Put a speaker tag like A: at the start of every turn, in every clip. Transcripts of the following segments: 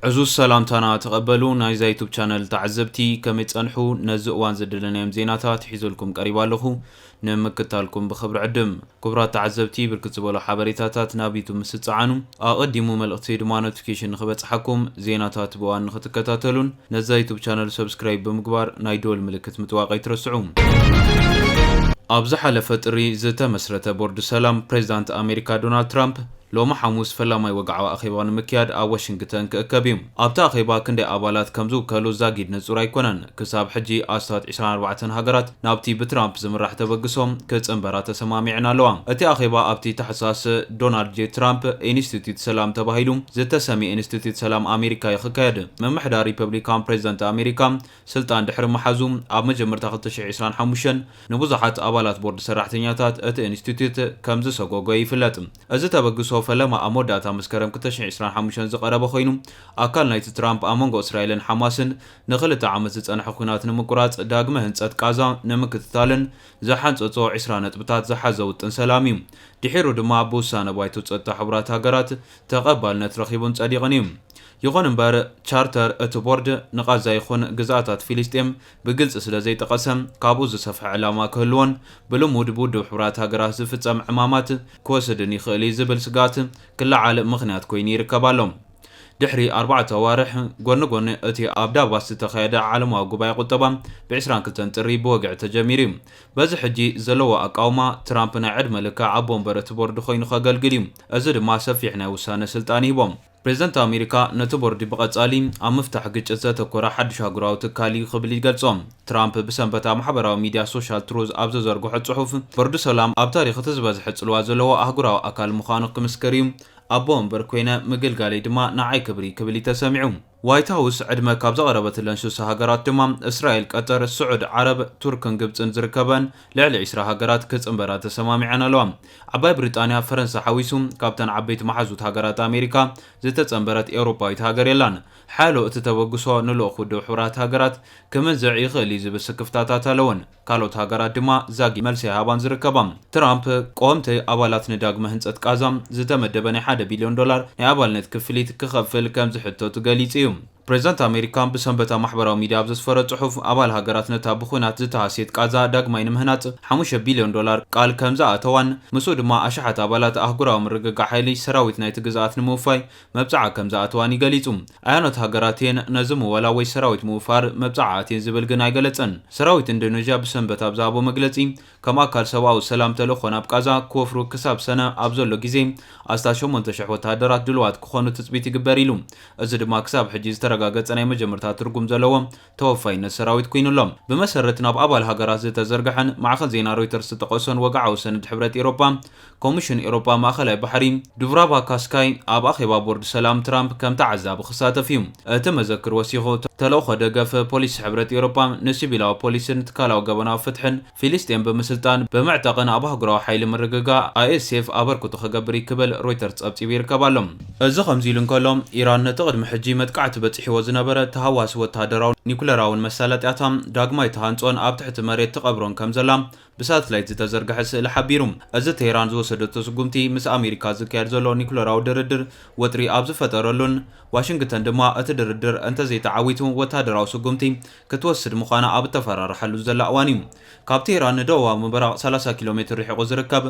A: ዕዙዝ ሰላምታና ተቐበሉ ናይዛ ዩቱብ ቻነል ተዓዘብቲ ከመይ ጸንሑ ነዚ እዋን ዝደለናዮም ዜናታት ሒዘልኩም ቀሪባ ኣለኹ ንምክታልኩም ብክብሪ ዕድም ክቡራት ተዓዘብቲ ብርክት ዝበሉ ሓበሬታታት ናብ ዩቱብ ምስ ትጸዓኑ ኣቐዲሙ መልእኽቲ ድማ ኖቲፊኬሽን ንኽበጽሓኩም ዜናታት ብእዋን ንኽትከታተሉን ነዛ ዩቱብ ቻነል ሰብስክራይብ ብምግባር ናይ ደወል ምልክት ምጥዋቕ ኣይትረስዑ ኣብ ዝሓለፈ ጥሪ ዝተመስረተ ቦርድ ሰላም ፕሬዚዳንት ኣሜሪካ ዶናልድ ትራምፕ ሎሚ ሓሙስ ፈላማይ ወግዓዊ ኣኼባ ንምክያድ ኣብ ዋሽንግተን ክእከብ እዩ። ኣብቲ ኣኼባ ክንደይ ኣባላት ከም ዝውከሉ ዛጊድ ንጹር ኣይኮነን። ክሳብ ሕጂ ኣስታት ዕስራን ኣርባዕተን ሃገራት ናብቲ ብትራምፕ ዝምራሕ ተበግሶ ክጽንበራ ተሰማሚዐን ኣለዋ። እቲ ኣኼባ ኣብቲ ታሕሳስ ዶናልድ ጄ ትራምፕ ኢንስቲትዩት ሰላም ተባሂሉ ዝተሰምየ ኢንስቲትዩት ሰላም ኣሜሪካ'ዩ ክካየድ። ምምሕዳር ሪፐብሊካን ፕሬዝደንት ኣሜሪካ ስልጣን ድሕሪ ምሓዙ ኣብ መጀመርታ ክልተ ሽሕ ዒስራን ሓሙሽተን ንብዙሓት ኣባላት ቦርድ ሰራሕተኛታት እቲ ኢንስቲትዩት ከም ዝሰጎጎ ይፍለጥ። እዚ ተበግሶ ፈለማ ኣብ መወዳእታ መስከረም ክልተ ሽሕ ዒስራን ሓሙሽተን ዝቐረበ ኮይኑ፣ ኣካል ናይቲ ትራምፕ ኣብ መንጎ እስራኤልን ሓማስን ንኽልተ ዓመት ዝጸንሐ ኲናት ንምቁራጽ ዳግመ ህንጸት ቃዛ ንምክትታልን ዝሓንጸጾ ዕስራ ነጥብታት ዝሓዘ ውጥን ሰላም እዩ። ድሒሩ ድማ ብውሳነ ባይቶ ጸጥታ ሕቡራት ሃገራት ተቐባልነት ረኺቡን ጸዲቕን እዩ። ይኹን እምበር፣ ቻርተር እቲ ቦርድ ንቓዛ ይኹን ግዝኣታት ፊሊስጤም ብግልጺ ስለ ዘይጠቐሰ፣ ካብኡ ዝሰፍሐ ዕላማ ክህልዎን ብልሙድ ብውድብ ሕቡራት ሃገራት ዝፍጸም ዕማማት ክወስድን ይኽእል እዩ ዝብል ስግኣት ክለዓል ምኽንያት ኰይኑ ይርከብ ኣሎ። ድሕሪ ኣርባዕተ ኣዋርሕ፣ ጐኒ ጐኒ እቲ ኣብ ዳቫስ ዝተኻየደ ዓለማዊ ጉባኤ ቍጠባ ብ ዕስራን ክልተን ጥሪ ብወግዒ ተጀሚሩ እዩ። በዚ ሕጂ ዘለዎ ኣቃውማ፣ ትራምፕ ናይ ዕድመ ልክዕ ኣቦ ወንበር እቲ ቦርድ ኰይኑ ከገልግል እዩ፣ እዚ ድማ ሰፊሕ ናይ ውሳነ ስልጣን ይህቦ። ፕሬዝደንት ኣሜሪካ ነቲ ቦርዲ ብቐጻሊ ኣብ ምፍታሕ ግጭት ዘተኮረ ሓድሽ ኣህጉራዊ ትካል እዩ ክብል ይገልጾ። ትራምፕ ብሰንበት ኣብ ማሕበራዊ ሚድያ ሶሻል ትሩዝ ኣብ ዘዘርግሖ ጽሑፍ፣ ቦርዲ ሰላም ኣብ ታሪኽ እቲ ዝበዝሐ ጽልዋ ዘለዎ ኣህጉራዊ ኣካል ምዃኑ ክምስክር እዩ፣ ኣቦ ወንበር ኮይነ ምግልጋለይ ድማ ንዓይ ክብሪ ክብል እዩ ተሰሚዑ። ዋይት ሃውስ ዕድመ ካብ ዘቕረበትለን ስሳ ሃገራት ድማ እስራኤል፣ ቀጠር፣ ስዑድ ዓረብ፣ ቱርክን ግብጽን ዝርከበኣን ልዕሊ ዕስራ ሃገራት ክጽንበራ ተሰማሚዐን ኣለዋ። ዓባይ ብሪጣንያ፣ ፈረንሳ ሓዊሱ ካብተን ዓበይቲ መሓዙት ሃገራት ኣሜሪካ ዝተጸንበረት ኤውሮጳዊት ሃገር የላን። ሓያሎ እቲ ተበግሶ ንልኡኽ ውድብ ሕቡራት ሃገራት ክምንዝዕ ይኽእል እዩ ዝብል ስክፍታታት ኣለወን። ካልኦት ሃገራት ድማ ዛጊት መልሲ ኣይሃባን ዝርከባ። ትራምፕ፣ ቀወምቲ ኣባላት ንዳግመ ህንጸት ቃዛ ዝተመደበ ናይ ሓደ ቢልዮን ዶላር ናይ ኣባልነት ክፍሊት ክኸፍል ከም ዝሕተቱ ገሊጹ እዩ። ፕሬዝዳንት ኣሜሪካ ብሰንበት ኣብ ማሕበራዊ ሚድያ ኣብ ዘስፈሮ ፅሑፍ፣ ኣባል ሃገራት ነታ ብዂናት ዝተሃስየት ቓዛ ዳግማይ ንምህናፅ ሓሙሽተ ቢልዮን ዶላር ቃል ከምዝኣተዋን ምስኡ ድማ ኣሽሓት ኣባላት ኣህጉራዊ ምርግጋዕ ሓይሊ ሰራዊት ናይቲ ግዝኣት ንምውፋይ መብፅዓ ከምዝኣተዋን እዩ ገሊፁ። ኣየኖት ሃገራት እየን ነዚ ምወላ ወይ ሰራዊት ምውፋር መብፅዓ ኣትየን ዝብል ግን ኣይገለፀን። ሰራዊት ኢንዶነዥያ ብሰንበት ኣብ ዝሃቦ መግለፂ፣ ከም ኣካል ሰብኣዊ ሰላም ተልእኾ ናብ ቃዛ ክወፍሩ ክሳብ ሰነ ኣብ ዘሎ ግዜ ኣስታት ሸሞንተ ሽሕ ወተሃደራት ድሉዋት ክኾኑ ትጽቢት ይግበር ኢሉ። እዚ ድማ ክሳብ ሕጂ ዝተረጋገጸ ናይ መጀመርታ ትርጉም ዘለዎ ተወፋይነት ሰራዊት ኩይኑ ኣሎ። ብመሰረት ናብ ኣባል ሃገራት ዝተዘርገሐን ማዕኸን ዜና ሮይተርስ ዝጠቐሶን ወግዓዊ ሰነድ ሕብረት ኢሮጳ፣ ኮሚሽን ኤውሮጳ ማእከላይ ባሕሪ ዱቭራቫ ካስካይ ኣብ ኣኼባ ቦርድ ሰላም ትራምፕ ከም ተዓዛቢ ክሳተፍ እዩ። እቲ መዘክር ወሲኹ፣ ተልእኾ ደገፍ ፖሊሲ ሕብረት ኤውሮጳ ንሲቪላዊ ፖሊስን ትካላዊ ገበናዊ ፍትሕን ፊሊስጤም ብምስልጣን ብምዕጣቕን ኣብ ኣህጉራዊ ሓይሊ ምርግጋእ፣ ኣይኤስኤፍ፣ ኣበርክቶ ክገብር እዩ ክብል ሮይተርስ ጸብጺቡ ይርከብ ኣሎ። እዚ ከምዚ ኢሉ እንከሎ፣ ኢራን ነቲ ቅድሚ ሕጂ መጥቃዕቲ በጺሕዎ ዝነበረ ተሃዋሲ ወተሃደራውን ኒኩለራውን መሳለጥያታ ዳግማይ ትሃንጾን ኣብ ትሕቲ መሬት ትቐብሮን ከምዘላ ብሳትላይት ዝተዘርግሐ ስእሊ ሓቢሩ። እዚ ቴህራን ዝወሰደቶ ስጉምቲ ምስ ኣሜሪካ ዝካየድ ዘሎ ኒኩለራዊ ድርድር ወጥሪ ኣብ ዝፈጠረሉን ዋሽንግተን ድማ እቲ ድርድር እንተዘይተዓዊቱ ወተሃደራዊ ስጉምቲ ክትወስድ ምዃና ኣብ እተፈራርሓሉን ዘላ እዋን'ዩ። ካብ ቴህራን ንደቡባዊ ምብራቕ ሰላሳ ኪሎ ሜትር ርሒቑ ዝርከብ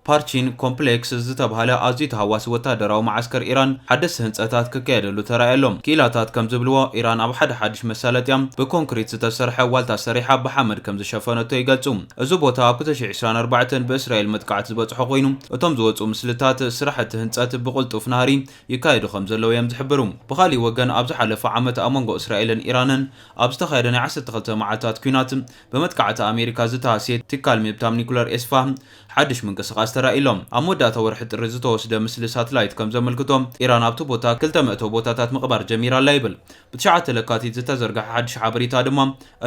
A: ፓርቺን ኮምፕሌክስ ዝተብሃለ ኣዝዩ ተሃዋሲ ወተሃደራዊ መዓስከር ኢራን ሓደስቲ ህንጸታት ክካየደሉ ተራእዩ ኣሎ። ክኢላታት ከም ዝብልዎ፣ ኢራን ኣብ ሓደ ሓድሽ መሳለጥያ ብኮንክሪት ዝተሰርሐ ዋልታ ሰሪሓ ብሓመድ ከም ዝሸፈነቶ ይገልጹ። እዚ ቦታ ኣብ ክልተ ሽሕ ዕስራን ኣርባዕተን ብእስራኤል መጥቃዕቲ ዝበጽሖ ኮይኑ፣ እቶም ዝወጽኡ ምስልታት ስራሕቲ ህንጸት ብቕልጡፍ ናህሪ ይካየዱ ከም ዘለዉ እዮም ዝሕብሩ። ብኻልእ ወገን ኣብ ዝሓለፈ ዓመት ኣብ መንጎ እስራኤልን ኢራንን ኣብ ዝተኻየደ ናይ ዓሰርተ ክልተ መዓልታት ኲናት ብመጥቃዕቲ ኣሜሪካ ዝተሃስየ ትካል ምብታም ኒኩለር ኤስፋሃን ሓድሽ ምንቅስቓስ ተራእዩ'ሎ። ኣብ መወዳእታ ወርሒ ጥሪ ዝተወስደ ምስሊ ሳትላይት ከም ዘመልክቶ፣ ኢራን ኣብቲ ቦታ ክልተ መእተዊ ቦታታት ምቕባር ጀሚራ ኣላ ይብል። ብትሽዓተ ለካቲት ዝተዘርግሐ ሓድሽ ሓበሬታ ድማ፣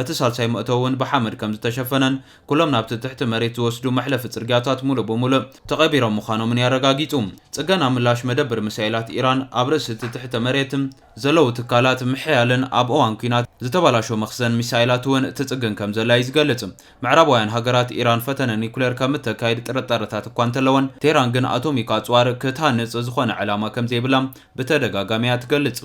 A: እቲ ሳልሳይ መእተዊ'ውን ብሓመድ ከም ዝተሸፈነን ኩሎም ናብቲ ትሕቲ መሬት ዝወስዱ መሕለፊ ጽርግያታት ምሉእ ብምሉእ ተቐቢሮም ምዃኖምን እዩ ኣረጋጊጹ። ጽገና ምላሽ መደብር ሚሳኤላት ኢራን ኣብ ርእሲ እቲ ትሕተ መሬት ዘለዉ ትካላት ምሕያልን ኣብ እዋን ኲናት ዝተበላሾ መኽዘን ሚሳኤላት'ውን ትጽግን ከም ዘላ እዩ ዝገልጽ። ምዕራባውያን ሃገራት ኢራን ፈተነ ኒኩሌር ከም እተካይድ ጥርጣረታት እኳ እንተለወን፣ ቴህራን ግን ኣቶሚክ ኣጽዋር ክትሃንጽ ዝዀነ ዕላማ ከም ዘይብላ ብተደጋጋሚ እያ እትገልጽ።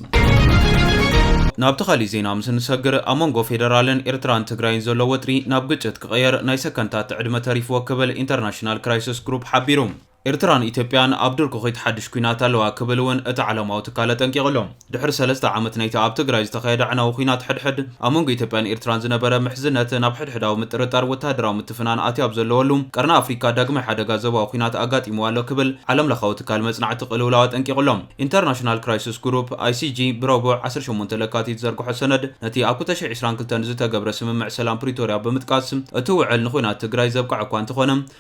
A: ናብቲ ካልእ ዜና ምስ እንሰግር፣ ኣብ መንጎ ፌደራልን ኤርትራን ትግራይን ዘሎ ወጥሪ ናብ ግጭት ክቕየር ናይ ሰከንድታት ዕድመ ተሪፍዎ ክብል ኢንተርናሽናል ክራይስስ ግሩፕ ሓቢሩ። ኤርትራን ኢትዮጵያን ኣብ ድርኩኺት ሓድሽ ኲናት ኣለዋ ክብል እውን እቲ ዓለማዊ ትካል ኣጠንቂቑ ኣሎ። ድሕሪ ሰለስተ ዓመት ናይቲ ኣብ ትግራይ ዝተኻየደ ኣዕናዊ ዂናት ሕድሕድ፣ ኣብ መንጎ ኢትዮጵያን ኤርትራን ዝነበረ ምሕዝነት ናብ ሕድሕዳዊ ምጥርጣር ወተሃደራዊ ምትፍናን ኣትዩ ኣብ ዘለወሉ፣ ቀርኒ ኣፍሪካ ዳግማይ ሓደጋ ዞባዊ ዂናት ኣጋጢምዋ ኣሎ ክብል ዓለምለኻዊ ትካል መጽናዕቲ ቅልውላው ኣጠንቂቑ ኣሎ። ኢንተርናሽናል ክራይስስ ግሩፕ፣ ICG፣ ብረቡዕ ዓሰርተ ሸሞንተ ለካቲት ዘርግሖ ሰነድ፣ ነቲ ኣብ ክልተ ሽሕ ዕስራን ክልተን ዝተገብረ ስምምዕ ሰላም ፕሪቶርያ ብምጥቃስ፣ እቲ ውዕል ንዂናት ትግራይ ዘብቅዐ'ኳ እንተኾነ፣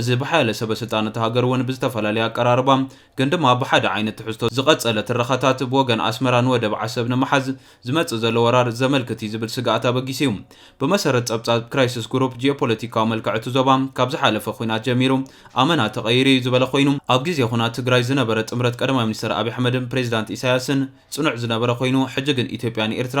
A: እዚ ብሓያለ ሰበስልጣን እታ ሃገር እውን ብዝተፈላለየ ኣቀራርባ ግን ድማ ብሓደ ዓይነት ትሕዝቶ ዝቐጸለ ትረኻታት፣ ብወገን ኣስመራ ንወደብ ዓሰብ ንምሓዝ ዝመጽእ ዘሎ ወራር ዘመልክት እዩ ዝብል ስግኣት ኣበጊሱ እዩ። ብመሰረት ጸብጻብ ክራይስስ ጉሩፕ፣ ጂኦፖለቲካዊ መልክዕ እቲ ዞባ ካብ ዝሓለፈ ኲናት ጀሚሩ ኣመና ተቐይሩ እዩ ዝበለ ኮይኑ፣ ኣብ ግዜ ዂናት ትግራይ ዝነበረ ጥምረት ቀዳማይ ሚኒስተር ኣብይ ኣሕመድን ፕሬዚዳንት ኢሳያስን ጽኑዕ ዝነበረ ኮይኑ፣ ሕጂ ግን ኢትዮጵያ ንኤርትራ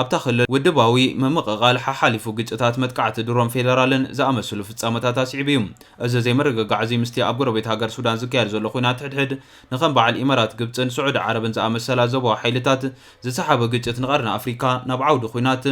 A: ኣብታ ክልል ውድባዊ ምምቕቓል ሓሓሊፉ ግጭታት፣ መጥቃዕቲ ድሮን፣ ፌደራልን ዝኣመስሉ ፍጻመታት ኣስዒቡ እዩ። እዚ ዘይምርግጋዕ'ዚ ምስቲ ኣብ ጎረቤት ሃገር ሱዳን ዝካየድ ዘሎ ኲናት ሕድሕድ ንከም በዓል ኢመራት ግብጽን ስዑዲ ዓረብን ዝኣመሰላ ዞባዊ ሓይልታት ዝሰሓበ ግጭት ንቀርኒ ኣፍሪካ ናብ ዓውዲ ኲናት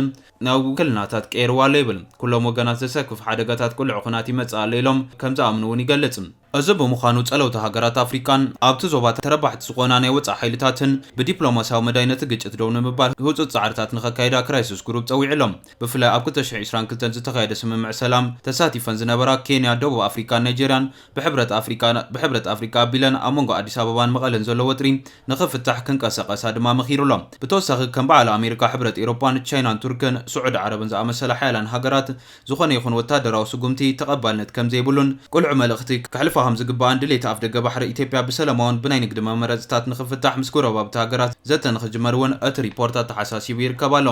A: ናብ ውክልናታት ቀይርዋ ኣሎ ይብል። ኩሎም ወገናት ዘሰክፍ ሓደጋታት ቅሉዕ ኲናት ይመጽእ ኣሎ ኢሎም ከም ዝኣምኑ እውን ይገልጽ። እዚ ብምዃኑ ፀለውቲ ሃገራት ኣፍሪካን ኣብቲ ዞባ ተረባሕቲ ዝኾና ናይ ወፃኢ ሓይልታትን ብዲፕሎማሲያዊ መዳይ ነቲ ግጭት ደው ንምባል ህፁፅ ፃዕርታት ንኸካይዳ ክራይስስ ግሩፕ ፀዊዑሎም። ብፍላይ ኣብ ክልተ ሽሕ ዒስራን ክልተን ዝተኻየደ ስምምዕ ሰላም ተሳቲፈን ዝነበራ ኬንያ፣ ደቡብ ኣፍሪካን ናይጀርያን ብሕብረት ኣፍሪካ ብሕብረት ኣፍሪካ ኣቢለን ኣብ መንጎ ኣዲስ ኣበባን መቐለን ዘሎ ወጥሪ ንኽፍታሕ ክንቀሰቐሳ ድማ መኺሩሎም። ብተወሳኺ ከም በዓል ኣሜሪካ፣ ሕብረት ኤሮፓን ቻይናን ቱርክን ስዑዲ ዓረብን ዝኣመሰላ ሓያላን ሃገራት ዝኾነ ይኹን ወታደራዊ ስጉምቲ ተቐባልነት ከምዘይብሉን ቅሉዕ መልእኽቲ ከሕልፋ ከምዝግባእን ድሌት ኣፍደገ ባሕሪ ኢትዮጵያ ብሰለማውን ብናይ ንግዲ መመረፅታት ንክፍታሕ ምስ ጎረባብቲ ሃገራት ዘተ ንክጅመር እውን እቲ ሪፖርት ኣተሓሳሲቡ ይርከብ ኣሎ።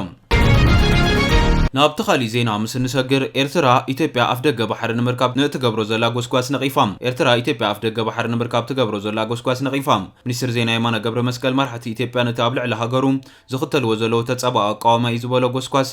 A: ናብቲ ካሊእ ዜና ምስ እንሰግር ኤርትራ ኢትዮጵያ ኣፍደገ ባሕሪ ንምርካብ ንእትገብሮ ዘላ ጎስጓስ ነቒፋ ኤርትራ ኢትዮጵያ ኣፍደገ ባሕሪ ንምርካብ ትገብሮ ዘላ ጎስጓስ ነቒፋ ሚኒስትር ዜና የማነ ገብረመስቀል መራሕቲ ኢትዮጵያ ነቲ ኣብ ልዕሊ ሃገሩ ዝኽተልዎ ዘለዉ ተፃባኢ ኣቃውማ እዩ ዝበሎ ጎስጓስ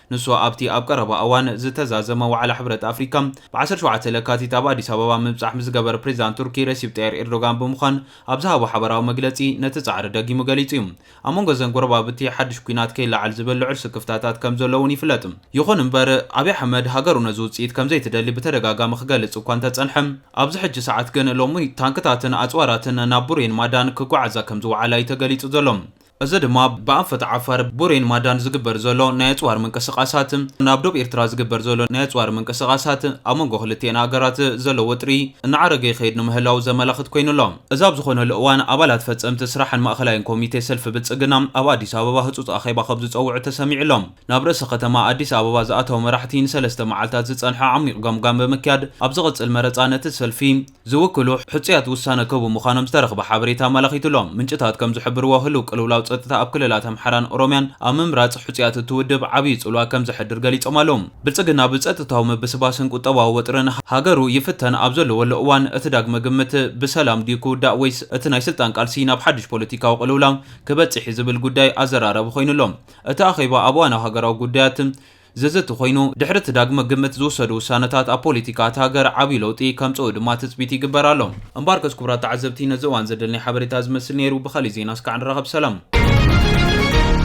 A: ንሱ ኣብቲ ኣብ ቀረባ እዋን ዝተዛዘመ ዋዕላ ሕብረት ኣፍሪካ ብ ዓሰርተ ሸውዓተ ለካቲት ኣብ ኣዲስ ኣበባ ምብፃሕ ምስ ዝገበረ ፕሬዚዳንት ቱርኪ ረሲፕ ጠይር ኢርዶጋን ብምዃን ኣብ ዝሃቦ ሓበራዊ መግለፂ ነቲ ፃዕሪ ደጊሙ ገሊፁ እዩ። ኣብ መንጎ እዘን ጎረባብቲ ሓዱሽ ኲናት ከይለዓል ዝብል ልዑል ስክፍታታት ከም ዘሎ እውን ይፍለጥ። ይኹን እምበር ኣብይ ኣሕመድ ሃገሩ ነዚ ውፅኢት ከም ዘይትደሊ ብተደጋጋሚ ክገልፅ እኳ እንተፀንሐ ኣብዚ ሕጂ ሰዓት ግን ሎሚ ታንክታትን ኣፅዋራትን ናብ ቡሬን ማዳን ክጓዓዛ ከም ዝወዓላ እዩ ተገሊፁ ዘሎ። እዚ ድማ ብኣንፈት ዓፋር፣ ቡሬን ማዳን ዝግበር ዘሎ ናይ ኣጽዋር ምንቅስቓሳት፣ ናብ ዶብ ኤርትራ ዝግበር ዘሎ ናይ ኣጽዋር ምንቅስቓሳት፣ ኣብ መንጎ ክልቲኤን ሃገራት ዘሎ ወጥሪ እናዓረገ ይኸይድ ንምህላዉ ዘመላኽት ኮይኑ ኣሎ። እዚ ኣብ ዝኾነሉ እዋን፣ ኣባላት ፈጸምቲ ስራሕን ማእኸላይን ኮሚቴ ሰልፊ ብልጽግና ኣብ ኣዲስ ኣበባ ህጹጽ ኣኼባ ከም ዝጸውዑ ተሰሚዑ ኣሎ። ናብ ርእሰ ከተማ ኣዲስ ኣበባ ዝኣተዉ መራሕቲ ንሰለስተ መዓልታት ዝጸንሐ ዓሚቕ ገምጋም ብምክያድ፣ ኣብ ዝቕጽል መረጻ ነቲ ሰልፊ ዝውክሉ ሕጹያት ውሳነ ክህቡ ምዃኖም ዝተረኽበ ሓበሬታ ኣመላኺቱ ኣሎ። ምንጭታት ከም ዝሕብርዎ፣ ህሉው ቅልውላው ጸጥታ ኣብ ክልላት ኣምሓራን ኦሮምያን ኣብ ምምራጽ ሕጹያት እቲ ውድብ ዓብዪ ጽልዋ ከም ዘሕድር ገሊጾም ኣለዉ። ብልጽግና ብጸጥታዊ ምብስባስን ቁጠባዊ ወጥርን ሃገሩ ይፍተን ኣብ ዘለወሉ እዋን፣ እቲ ዳግመ ግምት ብሰላም ድዩ ክውዳእ ወይስ እቲ ናይ ስልጣን ቃልሲ ናብ ሓድሽ ፖለቲካዊ ቅልውላው ክበጽሕ'ዩ ዝብል ጉዳይ ኣዘራራቢ ኮይኑ ኣሎ። እቲ ኣኼባ ኣብ እዋናዊ ሃገራዊ ጉዳያት፣ ዘዘቲ ኮይኑ፣ ድሕሪ እቲ ዳግመ ግምት ዝውሰዱ ውሳነታት ኣብ ፖሊቲካ እታ ሃገር ዓብዩ ለውጢ ከምጽኡ ድማ ትጽቢት ይግበር ኣሎ። እምበኣርከስ ክቡራት ተዓዘብቲ ነዚ እዋን ዘደልኒ ሓበሬታ እዚ ዝመስል ነይሩ፣ ብኻሊእ ዜና እስካዕ ንራኸብ ሰላም።